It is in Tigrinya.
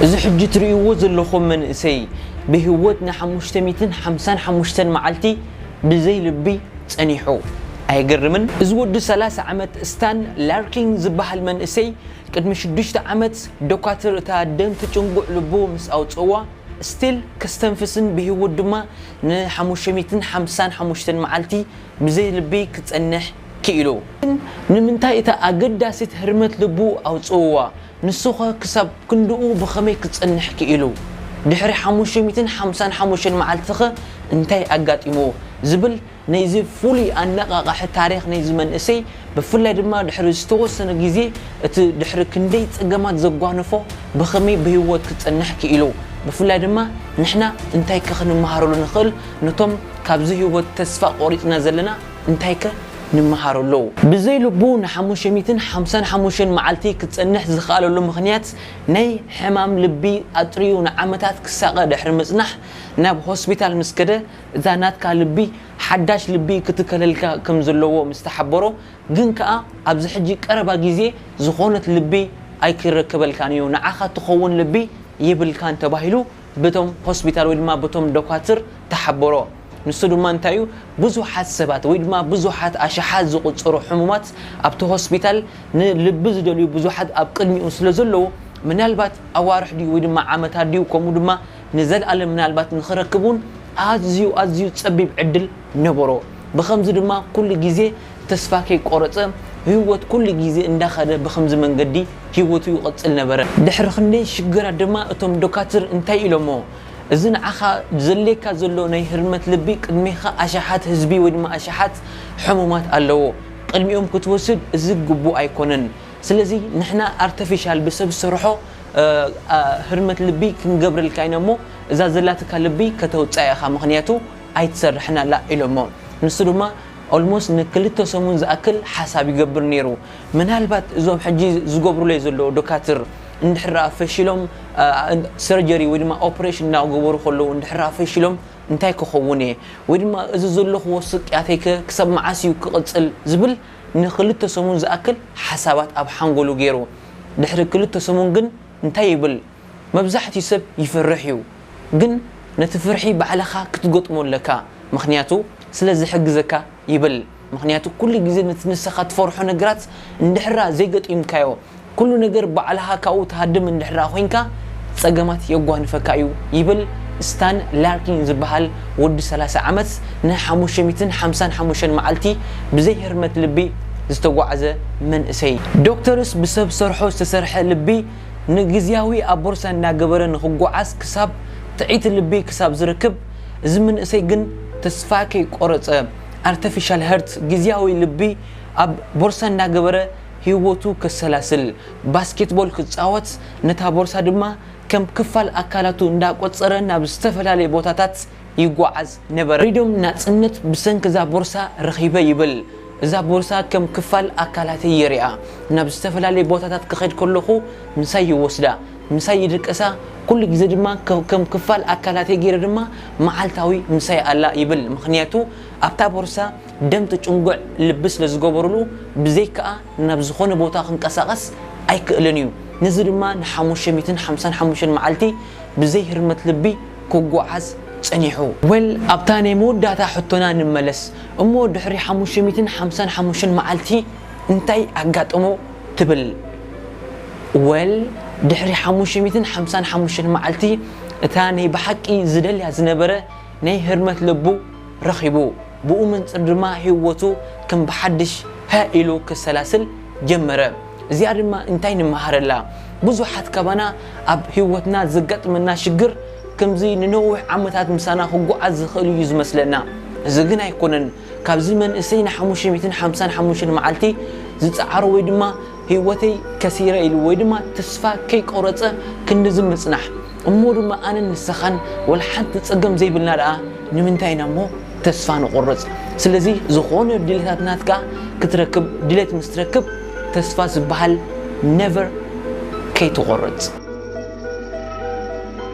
እዚ ሕጂ ትርእይዎ ዘለኹም መንእሰይ ብህይወት ንሓሙሽተ ሚእትን ሓምሳን ሓሙሽተን መዓልቲ ብዘይ ልቢ ጸኒሑ። ኣየገርምን? እዚ ወዲ ሰላሳ ዓመት ስታን ላርኪን ዝበሃል መንእሰይ ቅድሚ ሽዱሽተ ዓመት ዶካትር እታ ደም ትጭንጉዕ ልቡ ምስ ኣውጽእዋ ስቲል ከስተንፍስን ብህይወት ድማ ንሓሙሽተ ሚእትን ሓምሳን ሓሙሽተን መዓልቲ ብዘይ ልቢ ክጸንሕ ክኢሉ። ግን ንምንታይ እታ ኣገዳሲት ህርመት ልቡ ኣውጽእዋ? ንሱኸ ክሳብ ክንድኡ ብኸመይ ክጸንሕ ክኢሉ? ድሕሪ ሓሙሽተ ሚእትን ሓምሳን ሓሙሽተን መዓልቲኸ እንታይ ኣጋጢምዎ? ዝብል ናይዚ ፍሉይ ኣነቓቓሒ ታሪኽ ናይዚ መንእሰይ ብፍላይ ድማ ድሕሪ ዝተወሰነ ግዜ እቲ ድሕሪ ክንደይ ጸገማት ዘጓነፎ ብኸመይ ብህይወት ክጸንሕ ክኢሉ ብፍላይ ድማ ንሕና እንታይከ ክንመሃረሉ ንኽእል ነቶም ካብዚ ህይወት ተስፋ ቆሪጽና ዘለና እንታይከ ንመሃሮ ኣለዉ? ብዘይ ልቡ ንሓሙሽተ ሚእትን ሓምሳን ሓሙሽተን መዓልቲ ክጸንሕ ዝኸኣለሉ ምኽንያት ናይ ሕማም ልቢ ኣጥርዩ ንዓመታት ክሳቐ ድሕሪ ምጽናሕ ናብ ሆስፒታል ምስ ከደ እታ ናትካ ልቢ ሓዳሽ ልቢ ክትከለልካ ከም ዘለዎ ምስ ተሓበሮ ግን ከኣ ኣብዚ ሕጂ ቀረባ ግዜ ዝኾነት ልቢ ኣይክረከበልካንዩ ንዓኻ ትኸውን ልቢ የብልካን ተባሂሉ በቶም ሆስፒታል ወይ ድማ በቶም ዶካትር ተሓበሮ። ንሱ ድማ እንታይ እዩ፣ ብዙሓት ሰባት ወይ ድማ ብዙሓት ኣሽሓት ዝቑጸሩ ሕሙማት ኣብቲ ሆስፒታል ንልቢ ዝደልዩ ብዙሓት ኣብ ቅድሚኡ ስለ ዘለዉ፣ ምናልባት ኣዋርሕ ድዩ ወይ ድማ ዓመታት ድዩ ከምኡ ድማ ንዘልኣለም ምናልባት ንኽረክብ እውን ኣዝዩ ኣዝዩ ጸቢብ ዕድል ነበሮ። ብኸምዚ ድማ ኩሉ ግዜ ተስፋ ከይቆረጸ ህይወት ኩሉ ግዜ እንዳኸደ ብኸምዚ መንገዲ ህይወቱ ይቕጽል ነበረ። ድሕሪ ክንደይ ሽግራት ድማ እቶም ዶካትር እንታይ ኢሎሞ፣ እዚ ንዓኻ ዘድልየካ ዘሎ ናይ ህርመት ልቢ ቅድሜኻ ኣሽሓት ህዝቢ ወይ ድማ ኣሽሓት ሕሙማት ኣለዎ ቅድሚኦም ክትወስድ እዚ ግቡእ ኣይኮነን ስለዚ ንሕና ኣርተፊሻል ብሰብ ዝሰርሖ ህርመት ልቢ ክንገብረልካ ኢና እሞ እዛ ዘላትካ ልቢ ከተውጽኣ ኢኻ ምኽንያቱ ኣይትሰርሕን ኣላ ኢሎሞ ንሱ ድማ Almost ንክልተ ሰሙን ዝኣክል ሓሳብ ይገብር ኔሩ ምናልባት እዞም ሕጂ ዝገብሩለይ ዘለዉ ዶካትር እንድሕር ደኣ ፈሺሎም ሰርጀሪ ወይ ድማ ኦፕሬሽን እናገበሩ ከለዉ እንድሕር ደኣ ፈሺሎም እንታይ ክኸውን እየ ወይ ድማ እዚ ዘለኹዎ ስቅያተይ ከ ክሳብ መዓስ እዩ ክቕጽል ዝብል ንኽልተ ሰሙን ዝኣክል ሓሳባት ኣብ ሓንጎሉ ገይሩ ድሕሪ ክልተ ሰሙን ግን እንታይ ይብል መብዛሕትኡ ሰብ ይፈርሕ እዩ ግን ነቲ ፍርሒ ባዕልኻ ክትገጥሞ ኣለካ ምኽንያቱ ስለ ዝሕግዘካ ይብል ምክንያቱ ኩሉ ግዜ ነቲ ንሰካ ትፈርሖ ነግራት እንድሕራ ዘይገጢምካዮ ኩሉ ነገር ባዕልካ ካብኡ ትሃድም እንድሕራ ኮንካ ጸገማት የጓንፈካ እዩ ይብል ስታን ላርኪን ዝብሃል ወዲ ሰላሳ ዓመት ን ሓሙሽተ ሚእትን ሓምሳን ሓሙሽተን መዓልቲ ብዘይ ህርመት ልቢ ዝተጓዕዘ መንእሰይ። ዶክተርስ ብሰብ ሰርሖ ዝተሰርሐ ልቢ ንግዝያዊ ኣቦርሳ እንዳገበረ ንክጓዓዝ ክሳብ ጥዕይቲ ልቢ ክሳብ ዝርክብ እዚ ምንእሰይ ግን ተስፋ ከይቆረጸ ኣርተፊሻል ሀርት ግዝያዊ ልቢ ኣብ ቦርሳ እንዳገበረ ሂወቱ ከሰላስል ባስኬትቦል ክጻወት ነታ ቦርሳ ድማ ከም ክፋል ኣካላቱ እንዳቆጸረ ናብ ዝተፈላለየ ቦታታት ይጓዓዝ ነበረ። ፍሪዶም ናጽነት ብሰንኪ እዛ ቦርሳ ረኺበ ይብል። እዛ ቦርሳ ከም ክፋል ኣካላተይ ይሪኣ ናብ ዝተፈላለየ ቦታታት ክኸድ ከለኹ ምሳይ ይወስዳ። ምሳይ ይድቅሳ፣ ኩሉ ግዜ ድማ ከም ክፋል ኣካላተይ ገይረ ድማ መዓልታዊ ምሳይ ኣላ ይብል። ምኽንያቱ ኣብታ ቦርሳ ደም ትጭንጉዕ ልቢ ስለ ዝገበሩሉ ብዘይክኣ ናብ ዝኾነ ቦታ ክንቀሳቐስ ኣይክእልን እዩ። ነዚ ድማ ንሓሙሽተ ሚእትን ሓምሳን ሓሙሽተን መዓልቲ ብዘይ ህርመት ልቢ ክጉዓዝ ጸኒሑ። Well ኣብታ ናይ መወዳእታ ሕቶና ንመለስ እሞ ድሕሪ ሓሙሽተ ሚእትን ሓምሳን ሓሙሽተን መዓልቲ እንታይ ኣጋጠሞ? ትብል ወል ድሕሪ ሓሙሽተ ሚእትን ሓምሳን ሓሙሽተን መዓልቲ እታ ናይ ብሓቂ ዝደልያ ዝነበረ ናይ ህርመት ልቡ ረኺቡ ብኡ መንጽር ድማ ሂወቱ ከም ብሓድሽ ሃእ ኢሉ ከሰላስል ጀመረ እዚኣ ድማ እንታይ ንመሃረላ ብዙሓት ካባና ኣብ ሂወትና ዘጋጥመና ሽግር ከምዚ ንነዊሕ ዓመታት ምሳና ክጉዓዝ ዝኽእል እዩ ዝመስለና እዚ ግን ኣይኮነን ካብዚ መንእሰይ ንሓሙሽተ ሚእትን ሓምሳን ሓሙሽተን መዓልቲ ዝጸዓሮ ወይ ድማ ህይወተይ ከሲረ ኢሉ ወይ ድማ ተስፋ ከይቆረጸ ክንድዚ ምጽናሕ እሞ ድማ ኣነን ንሰኻን ወልሓንቲ ጸገም ዘይብልና ደኣ ንምንታይ ኢና እሞ ተስፋ ንቆርጽ ስለዚ ዝኾነ ድሌታት ናትካ ክትረክብ ድሌት ምስ ትረክብ ተስፋ ዝበሃል never ከይትቆርጽ።